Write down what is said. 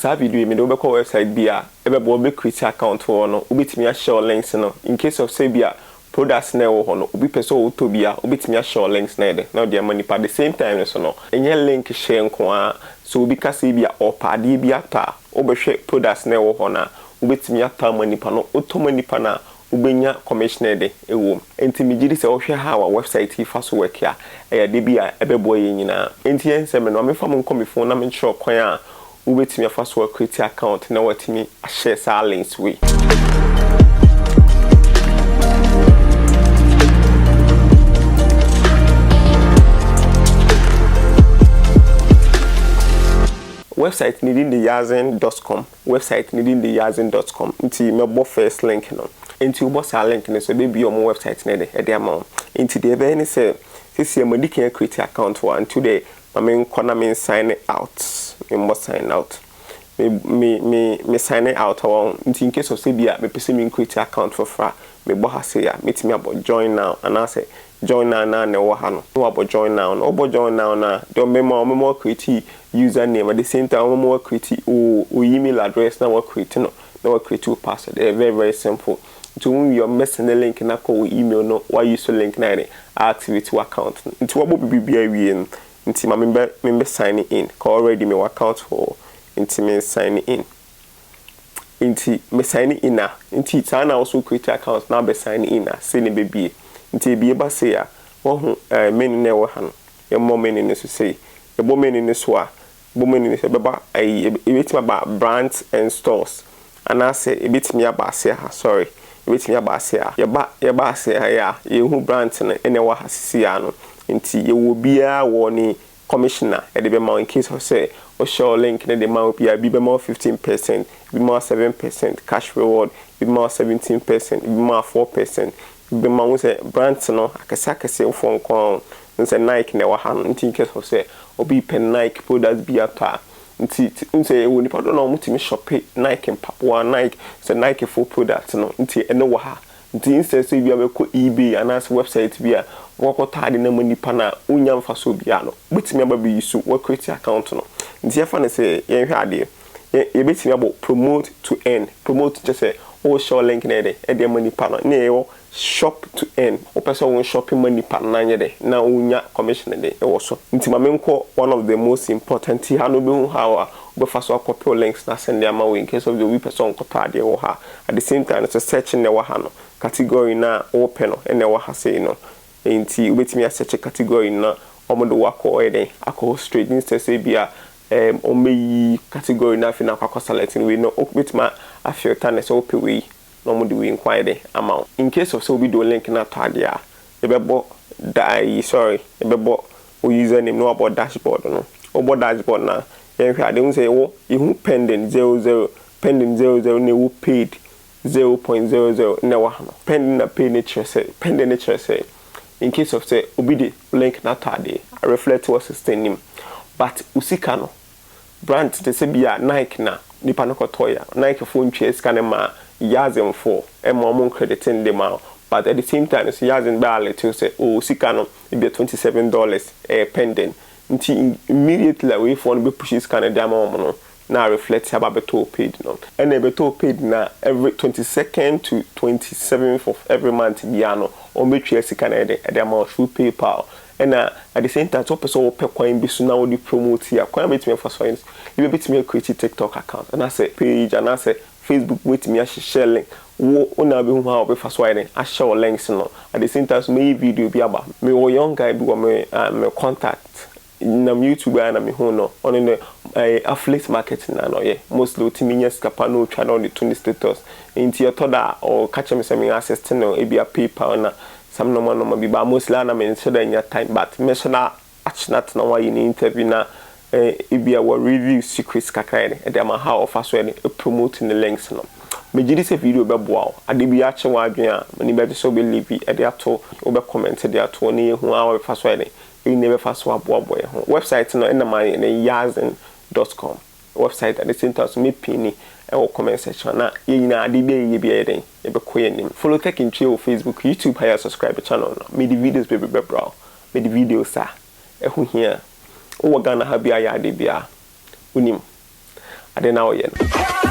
Saa video yi mede wo bɛkɔ website bi a ɛbɛboa wo bɛ create account wɔ hɔ no wobɛtumi ahyɛ wo links no in case of sɛ ebia products no a ɛwɔ hɔ no obi pɛ sɛ ɔtɔ bi a wobɛtumi ahyɛ wo links no ayɛ dɛn na wode ama nipa the same time nso no ɛnyɛ link hyɛ nko ara sɛ obi ka sɛ ebia ɔpɛ adeɛ bi atɔ a wobɛhwɛ products no a ɛwɔ hɔ no a wobɛtumi atɔ ama nipa na wotɔ ma nipa no a wobenya commissioner de wom. Enti megye di sɛ wohwɛ how a website yi fa so work a, ɛyɛ ade bi a ɛbɛboa yɛn nyinaa. Enti yɛn sɛ me no, ma memfa mo nkɔ me fon na menkyerɛ ɔkwan a wobetumi afa so a create account na wɔatumi ahyɛ saa links wei. Website no din de Yazen dot com. Wɛbsaet no din de Yazin dɔt kɔm, ntsi mɛbɔ fɛs link no. Ntsi wobɔ saa link no so, ebebue ɔmo wɛbsaet no de, de ama wo. Ntsi dza ebɛyɛ ne sɛ, sesei madi kan akreeti akawnt wɔ ha, ntsi wode ma menkɔ na men saene aot, menbɔ saen aot. Me, me, me, me saene aot a, wɔho. Ntsi in case of sɛ bi a mepɛ sɛ menkreeti akawnt fofor a, mebɔ ha sei a, metumi abɔ jɔin naaw anaasɛ Join now naa na ɛwɔ ha no na wabɔ join now no wobɔ join now no a deɛ ɔmbɛma wo ɔmbɛma wo create user name at the same time ɔmbɛma wo create wo wo email address na wa create no na wa create wo password ɛyɛ very very simple nti wo wie ɔmbɛ send link na kɔ wo email no wa use so link na yɛ de activate wo account no nti wabɔ bibi bi awie no nti ma membɛ membɛ sign in ka already me wɔ account hɔ nti me sign in nti me sign in a nti saa na woso create account na abɛ sign in a sei na ɛbɛbie nti ɛbie ba sei a wahu eh menu no a ɛwɔ ha no yɛmmɔ menu no so sei yɛbɔ menu no so a bɔ menu no so ɛbɛba ayi ɛbɛtumi aba brands and stores anaasɛ ɛbɛtumi aba ase ha sorry ɛbɛtumi aba ase ha yɛba yɛba ase ha yɛ a yɛhu brands no ɛna ɛwɔ ha sisi a no nti yɛwɔ biaa wɔ ne Commissioner de bɛma wo in case of sɛ wo share wo link no de ma obi a ebi bɛma wo fifteen percent, ebi bɛma wo seven percent cash reward, ebi bɛma wo seventeen percent, ebi bɛma wo four percent, ebi bɛma wo, wohu sɛ brands no akɛse akɛse foɔ nko ara o, wohu sɛ Nike na ɛwɔ ha no nti in case of sɛ obi repɛ Nike products bi atɔ a nti te wohu sɛ yɛwɔ nnipa dodoɔ no a wɔtumi shope Nike mpaboa, Nike, wohu sɛ Nike foɔ products no nti ɛno wɔ ha Ntsi nnsɛ sɛ bi a ebɛkɔ eBay anaasɛ wɛbsaet bi a wɔakɔtɔ adze no ama nyimpa no a onnya mfaso biara no, wobetumi aba biribi so wɔakreetse account no. Ntsi yɛmfa no sɛ yɛnhwɛ adze, yɛ yebetumi abɔ promote to earn, promote kyerɛ sɛ worehyɛ wo link no ayɛ dɛn, de ama nyimpa no, nna yɛwɔ shop to earn, wopɛ sɛ wonshɔpe ma nyimpa no na anyɛ dɛn, na wonnya commission de wɔ so. Ntsi ma menkɔ one of the most important yi, ha no wobohu how a wobɛfa so akɔpew links no asɛn de ama wo in case of the obi pɛ sɛ ɔnkɔtɔ adze wɔ ha a, At the same time nso search no na ɛwɔ ha no, category no a wopɛ no na ɛwɔ ha sei no. Nti wobɛtumi a search category no na wɔde wo akɔ ɔyɛ dɛn, akɔ hɔ straight instead sɛ ebia ɛɛm wɔbɛyi category no afei na wakɔ select no wei no wobɛtumi a a filter no sɛ wopɛ wei na wɔde wei nko ayɛ dɛn ama wo. In case of sɛ obi de wo link no atɔ adeɛ a, yɛbɛbɔ da ayi sorry yɛbɛbɔ wo username na wabɔ dashboard no. Wobɔ dashboard no a, yɛnhwɛ ade, wohu sɛ yɛwɔ, yɛhu pending zero zero, pending zero zero na ɛwɔ paid zero point zero zero na ɛwɔ ha no. Pending na paid no kyerɛ sɛ, pending no kyerɛ sɛ in case of sɛ obi de link no atɔ adeɛ a reflect wɔ system no mu but wo sika no Brands te sɛ bi a Nike na nipa no kɔtɔɔe a, Nike foɔ ntwaa sika no mmaa Yazin foɔ, ɛmmaa wɔn credit nde maa wɔn. But at the same time nso Yazin bɛ alert wo sɛ oh wo sika no ebia twenty seven dollars ɛyɛ pending. Nti immediately a wei foɔ no bɛ push sika no de ama wɔn no, na a reflect aba abɛtɔ wo paid no. Ɛna ɛbɛtɔ wo paid no a, every twenty second to twenty seventh of every month biara no, wɔn bɛtwaa sika no ɛde ɛde ama wo through PayPal. Ɛna at the same time sɛ wopɛ sɛ wopɛ kwan bi so na wode promote a, kwan a mɛtumi afa so ayɛ no, ebia bɛtumi a create TikTok account anaasɛ page anaasɛ Facebook mɛtumi ahyehyɛ link, wo wo na wobɛhu how a wobɛfa so ayɛ dɛn ahyɛ wo links no, at the same time nso mɛyɛ video bi aba. Mewɔ young guy bi wɔ me ah me contact, nam YouTube a na mehuu no, ɔno no ɛyɛ affiliate marketing na na ɔyɛ, mostly ɔtumi nya sika pa na ɔtwa na ɔde to ne status, nti ɛtɔ da a ɔka kyerɛ me sɛ me assist no ebia PayPal na Some normal normal bi but mostly a na me nhyɛ da nya time but me hyɛ da akyena tena ho ayɛ ne interview na eh ebi a wɔ review secrets kakra yɛ de ɛde ama how ɔfa so yɛ de promote ne links no. Me gye di sɛ video bɛ boa wo. Ade bi akye wo adwene a m'ani bɛ gye sɛ wo bɛ leave ɛde ato, wo bɛ comment de ato na yɛ hu how yɛ bɛ fa so ayɛ de, ɛyi na yɛ bɛ fa so aboa boa yɛ ho. Website no ɛna ma yɛ ne yazen dot com. Website at the same time nso me pinni wɔ comment section a na yɛn nyinaa ade biara yɛyɛ biara yɛ dɛn yɛbɛkɔ yɛn anim follow tech ntwea wɔ facebook youtube ha yɛ subscribe channel no mede videos bebree bɛbra wo mede videos a ɛho hia wowɔ Ghana ha biara yɛ ade biara wonim ade no a woyɛ no.